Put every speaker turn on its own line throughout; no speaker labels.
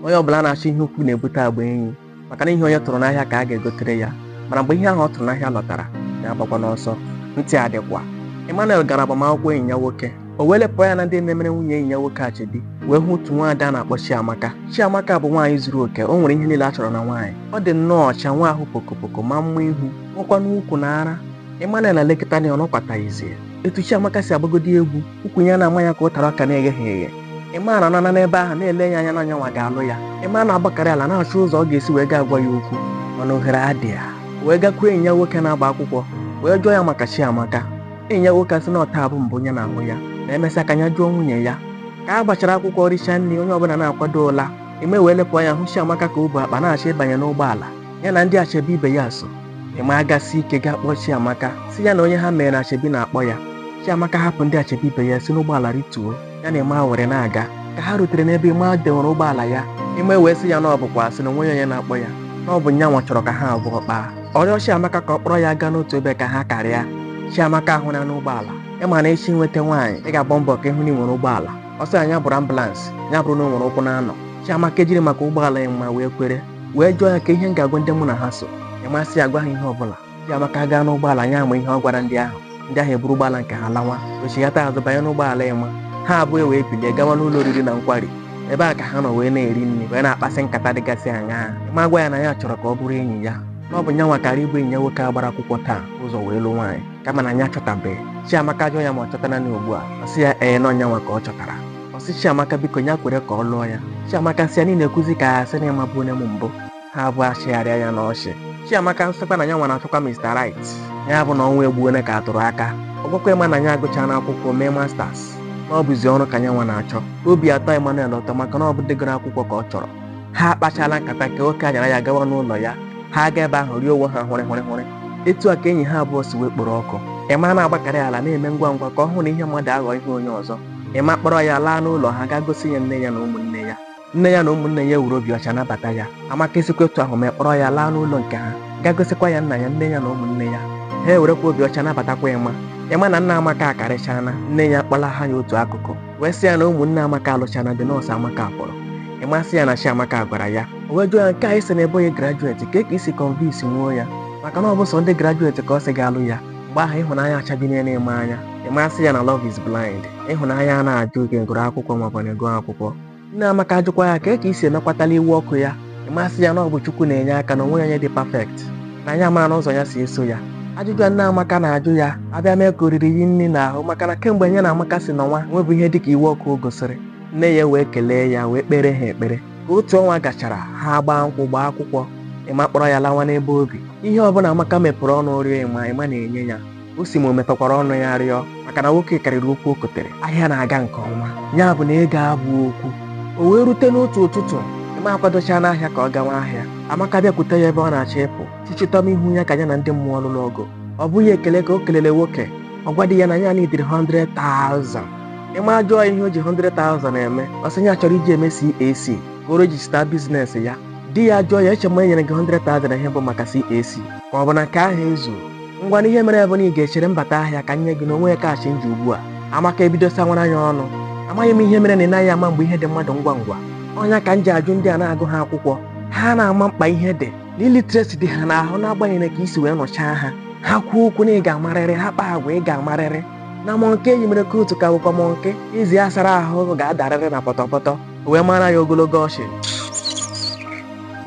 onye ọbụla na-achọ ihe ukwu na-ebute agba enyi maka na ihe onye tụrụ n'ahịa ka a ga-egotere ya mana mgbe ihe ahụ ọ tụrụ n'ahịa lọtara ya agbakwana ọsọ ntị adịkwa Emmanuel gara agbamakwụkwọ enyi ya nwoke o wee lepụ anya na ndị na-emere nwunye enyi ya nwoke achebi wee hụ otu nwaada a na-akpọ Chiamaka Chiamaka bụ nwaanyị zuru oke o nwere ihe niile a chọrọ na nwaanyị ọ dị nnọọ ọcha nwee ahụ pokopoko maa mma ihu nwekwanụ ukwu na ara Emmanuel elekata ya ọ nọkwataghịzi etu Chiamaka si agbagodi egwu ukwu ya na-ama ya ka ụtara ọka na-egheghị eghe Emma na-anọ n'ebe ahụ na-ele ya anya na nyanwa ga-alụ ya Emma na-agbakarị ala na-achọ ụzọ ọ ga-esi wee gaa gwa ya okwu mana ohere adịghị wee gakwuo enyi ya nwoke na-agba akwụkwọ wee jụọ ya maka Chiamaka enyi ya nwoke asị na ọ taa bụ mbụ nya na-ahụ ya na e mesịa ka ya jụọ nwunye ya ka a gbachara akwụkwọ richa nri onye ọbụla na-akwado ụla Emma wee lepụ anya hụ Chiamaka ka o bu akpa na-achọ ịbanye n'ụgbọala ya na ndị achebi ibe ya so Emma agasie ike gaa kpọọ chiamaka sị ya na onye ha mere achebi na-akpọ ya chiamaka ahapụ ndị achebi ibe ya si n'ụgbọala rituo ya na Emma ewere na-aga ka ha rutere n'ebe Emma dewere ụgbọala ya Emma wee sị ya na ọ bụkwa asị na o nweghị onye na-akpọ ya na ọ bụ nyanwa chọrọ ka ha abụọ kpaa ọ rịọ chiamaka ka ọ kpọrọ ya gaa n'otu ebe ka ha karịa chiamaka ahụna ụgbọala ị ma na ị chọọ inweta nwaanyị ị ga-agba mbọ ka ị hụ na i nwere ụgbọala ọ sị na ya bụrụ ambulance ya bụrụ na o nwere ụkwụ naanọ chiamaka ejiri maka ụgbọala Emma wee kwere wee jụọ ya kee ihe m ga-agwa ndị mụ na ha so Emma asị ya gwa ha ihe ọbụla Chiamaka agaa n'ụgbọala anyị ama ihe ọ gwara ndị ahụ ndị ahụ eburu ụgbọala nke ha lawa o chighata azụ banye n'ụgbọala Emma ha abụọ wee bilie gawa n'ụlọ oriri na nkwari ebe a ka ha nọ wee na-eri nri wee na-akpasị nkata dịgasị aṅaa Emma agwa ya na ya chọrọ ka ọ bụrụ enyi ya na ọ bụ nyanwa kara ibu enyi ya nwoke a gbara akwụkwọ taa ụzọ wee lụ nwaanyị kama na ya chọtabeghị Chiamaka ajụọ ya ma ọ chọtana ugbu a ọ sị ya ee na ọ nyanwa ka ọ chọtara ọ sị Chiamaka biko ya kwere ka ọ lụọ ya Chiamaka asị ya na ị na-ekwuzi ka a sị na ị mabu onye m bụ ha abụọ achịgharịa ya n'ọchị Chiamaka asịkwa na ya nwa na-achọkwa Mr. Right ya bụ na ọnwa egbu onye ka a tụrụ aka ọ gwakwa Emma na ya agụchaana akwụkwọ mee masters na ọ bụzi ọrụ ka ya nwa na-achọ obi atọ Emmanuel ụtọ maka na ọ bụ ndị gụrụ akwụkwọ ka ọ chọrọ ha akpachaala nkata ka oke anyara ya gawa n'ụlọ ya ha aga ebe ahụ rie onwe ha hụrị hụrị hụrị etu a ka enyi ha abụọ si wee kporo ọkụ Emma na-agbakarị ala na-eme ngwa ngwa ka ọ hụ na ihe mmadụ aghọ ihe onye ọzọ Emma akpọrọ ya laa n'ụlọ ha gaa gosi ya nne ya na ụmụnne ya. Nne ya na ụmụnne ya ewere obi ọcha nabata ya. Amaka esikwa otu ahụ mee kpọrọ ya laa n'ụlọ nke ha gaa gosikwa ya nna ya, nne ya na ụmụnne ya. Ha ewerekwa obi ọcha nabatakwa Emma. Emma na nna Amaka akarịchaana, nne ya kpọlaha ya otu akụkụ wee sị ya na ụmụnne Amaka alụchaana di na ọ sọ Amaka fọrọ. Emma sị ya na Chiamaka gwara ya. O wee jụọ ya nke a ị sị na ị bụghị graduate kee ka i si convince nwuo ya maka na ọ bụ sọ ndị graduate ka ọ sị ga-alụ ya. Mgbe ahụ ịhụnanya achabinyena Emma anya. ema sị ya na love is blind ịhụnanya anaghị ajụ onye gụrụ akwụkwọ maọbụ na ị gụghị akwụkwọ nne amaka ajụkwa ya kee ka i si emekwatala iwe ọkụ ya ema sị ya na ọ bụ chukwu na-enye aka na o nweghị onye dị perfect na ya amarala ụzọ ya si eso ya ajụjụ a nne amaka na-ajụ ya abịa mee ka oriri yi nri n'ahụ maka na kemgbe ya na amaka si nọwa o nwebeghị ihe dịka iwe ọkụ o gosiri nne ya wee kelee ya wee kpere ha ekpere ka otu ọnwa gachara ha gbaa nkwụ gbaa akwụkwọ ema kpọrọ ya lawa n'ebe o bi ihe ọbụla amaka mepụrụ ọnụ rịọ ema ema na-enye ya o si ma o mepekwara ọnụ ya rịọ maka na nwoke karịrị okwu o kotere ahịa na-aga nke ọma ya bụ na ego abụghị okwu o wee rute n'otu ụtụtụ ema akwadocha n'ahịa ka ọ gawa ahịa amaka bịakwute ya ebe ọ na-achọ ịpụ chichịtọm ihu ya ka ya na ndị mmụọ lụrụ ọgụ ọ bụghị ekele ka o kelele nwoke ọ gwa di ya na ya nidiri 100,000 ema ajụọ ya ihe o ji 100,000 eme ọ sị ya chọrọ iji eme CAC ka o register business ya di ya jụọ ya eche m na e nyere gị 100,000 ihe bụ maka CAC ka ọ bụ na nke ahụ ezughị ngwanụ ihe mere bụ na ị ga-echere m bata ahịa ka m nye gị na o nweghị cash m ji ugbu a amaka ebido sawara ya ọnụ amaghị m ihe mere na ị naghị ama mgbe ihe dị mmadụ ngwa ngwa ọ ya ka m ji ajụ ndị a na-agụghị akwụkwọ ha anaghị ama mkpa ihe dị na illiteracy dị ha n'ahụ n'agbanyeghị ka e si wee nụchaa ha ha kwuo okwu na ị ga-amarịrị ha kpaa agwa ị ga-amarịrị na monkey e yinyere coat ka bụkwa monkey ezi a sara ahụ ga-adarịrị na pọtọpọtọ o wee mara ya ogologo ọsụ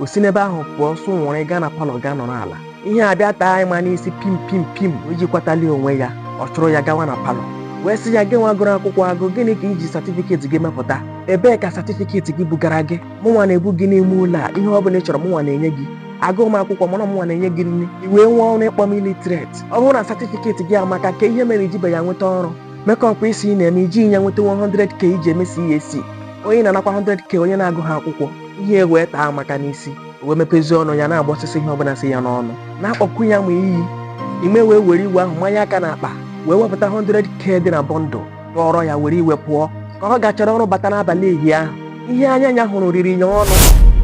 o si n'ebe ahụ pụọ sụ nwụrụ gaa na palọ gaa nọrọ ala ihe abịa taa ema n'isi pim pim pim o jikwatalighị onwe ya ọ chụrụ ya gawa na palọ wee sị ya gị nwa gụrụ akwụkwọ agụ gịnị ka i ji certificate gị mepụta ebee ka certificate gị bugara gị mụnwa na-ebu gị n'ime ụlọ a ihe ọ bụla ị chọrọ mụnwa na-enye gị agụghị m akwụkwọ mana mụnwa na-enye gị nri i wee nwee ọnụ ịkpọ m illiterate ọ bụrụ na certificate gị amaka kee ihe mere i jibeghị ya nweta ọrụ makeup ị sị ị na-eme i jighị ya nweta 100k iji eme CAC onye ị na-anakwa 100k onye na-agụghị akwụkwọ ihe wee taa amaka n'isi wee mepezie ọnụ ya na-agbọsịsị ihe ọbụla si ya n'ọnụ na-akpọkwu ya ma iyi ema wee were iwe ahụ manye aka n'akpa wee wepụta 100k dị na bundle tụọrọ ya were iwe pụọ ka ọ gachara ọrụ bata n'abalị ehi ahụ ihe anya ya hụrụ riri ya ọnụ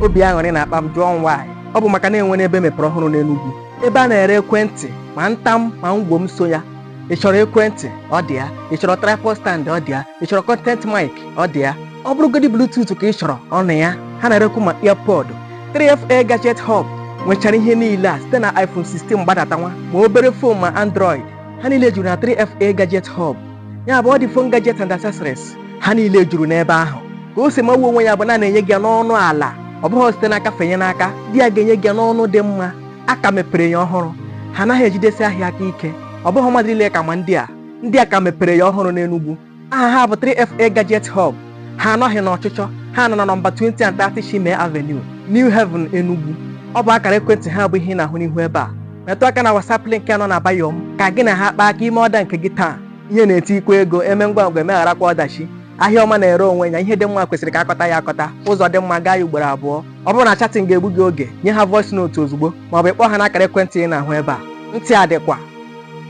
obi aṅụrị na-akpa m jụọ m why ọ bụ maka na e nwere ebe mepere ọhụrụ n'Enugwu ebe a na-ere ekwentị ma ntam ma ngwom so ya ị chọrọ ekwentị ọ dị ya ị chọrọ tripod stand ọ dị ya ị chọrọ content mic ọ dị ya ọ bụrụgodị bluetooth ka ị chọrọ ọ nọ ya ha na-erekwu ma earpod 3fa gadget hub nwechara ihe niile a site na iphone 16 gbadatawa ma obere phone ma android ha niile juru na 3fa gadget hub ya bụ ọ dị phone gadget and accessories ha niile juru n'ebe ahụ ka o si magbuo onwe ya bụ na a na-enye gị ya n'ọnụ ala ọ bụghị site n'aka fenye n'aka ndị a ga-enye gị ya n'ọnụ dị mma a ka mepere ya ọhụrụ ha anaghị ejidesi ahịa aka ike ọ bụghị mmadụ niile ka ma ndị a ndị a ka mepere ya ọhụrụ n'Enugu aha ha bụ 3FA Gadget Hub ha anọghị n'ọchịchọ ha nọ na nọmba 20 and 30 Chime Avenue New Haven Enugu ọ bụ akara ekwentị ha bụ ihe ị na-ahụ n'ihu ebe a metụ aka na WhatsApp link nọ na bio m ka gị na ha kpaa aka ime ọda nke gị taa ihe na-eti ikwe ego eme ngwa ngwa emegharakwa ọdachi ahịa ọma na-ere onwe ya ihe dị mma kwesịrị ka akọta ya akọta ụzọ dị mma gaa ya ugboro abụọ ọ bụrụ na chatting ga-egbu gị oge nye ha voice note ozugbo maọbụ ịkpọ ha n'akara ekwentị ị na-ahụ ebe a ntị adịkwa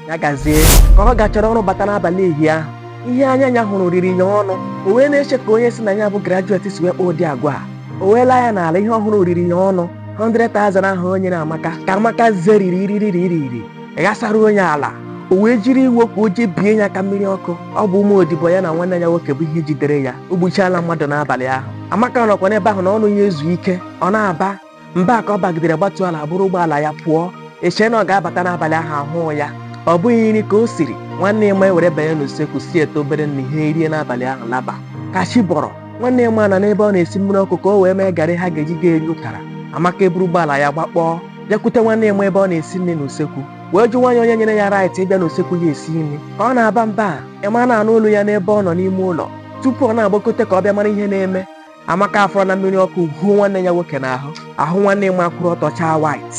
ya gazie ka ọ gachara ọrụ bata n'abalị ehi ahụ ihe anya ya hụrụ riri ya ọnụ o wee na-eche ka onye si na ya bụ graduate si wee kpaa ụdị agwa a o wee lee anya n'ala ihe ọ hụrụ riri ya ọnụ 100,000 ahụ o nyere amaka ka amaka zeriri iririri ghasara onye ala o wee jiri iwe ka o jee bie ya aka mmiri ọkụ ọ bụ ụmụ odibo ya na nwanne ya nwoke bụ ihe jidere ya o gbuchaala mmadụ n'abalị ahụ amaka nọkwa n'ebe ahụ na ọnụ ya ezu ike ọ na-aba mba ka ọ bagidere gbatuo ala buru ụgbọala ya pụọ echee na ọ ga-abata n'abalị ahụ ahụụ ya ọ bụghị nri ka o siri nwanne Emma ewere banye n'usekwu siete obere nri ha erie n'abalị ahụ laba ka chi bọrọ nwanne Emma nọ n'ebe ọ na-esi mmiri ọkụ ka o wee mee garị ha ga-eji ga eri ụtara amaka eburu ụgbọala ya gbakpọọ bịakwute nwanne Emma ebe ọ na-esi nri n'usekwu wee jụwa ya onye nyere ya right ịbịa n'usekwu ya esi nri ka ọ na-aba mba Emma na-anụ olu ya n'ebe ọ nọ n'ime ụlọ tupu ọ na-agbakote ka ọ bịa mara ihe na-eme amaka afọrọna mmiri ọkụ huo nwanne ya nwoke n'ahụ ahụ nwanne Emma akwụrụ ọtọ chaa white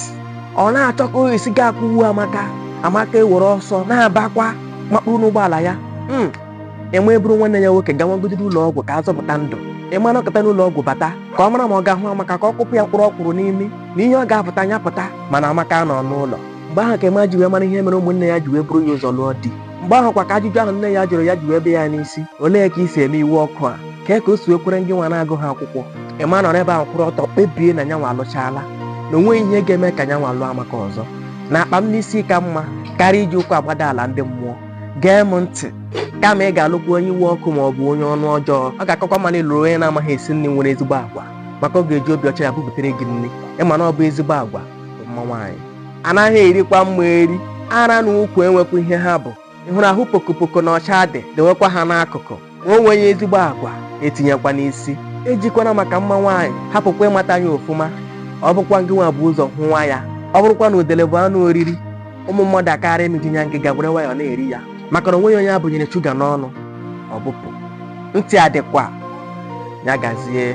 ọ na-achọ ka o si gaa kụwu amaka amaka ewere ọsọ na-abakwa makpuru n'ụgbọala ya Emma eburu nwanne ya nwoke gawagodiri ụlọ ọgwụ ka a zọpụta ndụ Emma anọkata n'ụlọ ọgwụ bata ka ọ mara ma ọ ga-ahụ amaka ka ọ kụpụ ya mkpụrụ ọkwụrụ n'imi na ihe ọ ga-apụta ya pụta mana amaka anọọ n'ụlọ mgbe ahụ ka Emma ji wee mara ihe mere ụmụnne ya ji wee buru ya ụzọ lụọ di mgbe ahụkwa ka ajụjụ ahụ nne ya jụrụ ya ji wee bịa ya n'isi olee ka i si eme iwe ọkụ a kee ka o si ekwere ndị nwa na-agụ ha akwụkwọ Emma anọrọ ebe ahụ kwụrụ ọtọ kpebie na nyanwa alụchaala na o nweghị ihe ga-eme ka nyanwa lụọ amaka ọzọ na akpa m n'isi ka mma karịa iji ụkwụ agbada ala ndị mmụọ gee m ntị kama ị ga-alụkwa onye iwe ọkụ ma ọ bụ onye ọnụ ọjọọ ọ ga-akakwa mma na ị lụrụ onye na-amaghị esi nri nwere ezigbo agwa maka ọ ga-eji obi ọcha ya bubutere gị nri ị ma na ọ bụ ezigbo agwa mma nwaanyị anaghị erikwa mma eri ara na ukwu enwekwa ihe ha bụ ị hụrụ ahụ pokopoko na ọcha dị dewekwa ha n'akụkụ ma o nweghị ezigbo agwa etinyekwa n'isi ejikwana maka mma nwaanyị hapụkwa ịmata ya ofụma ọ bụkwa ngị nwa bu ụzọ hụwa ya ọ bụrụkwa na udele bụ anụ oriri ụmụ mmadụ akarị mịju nya ngịga gwere nwayọ na-eri ya maka na onweghị onye abụnyere shuga n'ọnụ ọ bụpụ ntị adịkwa ya gazie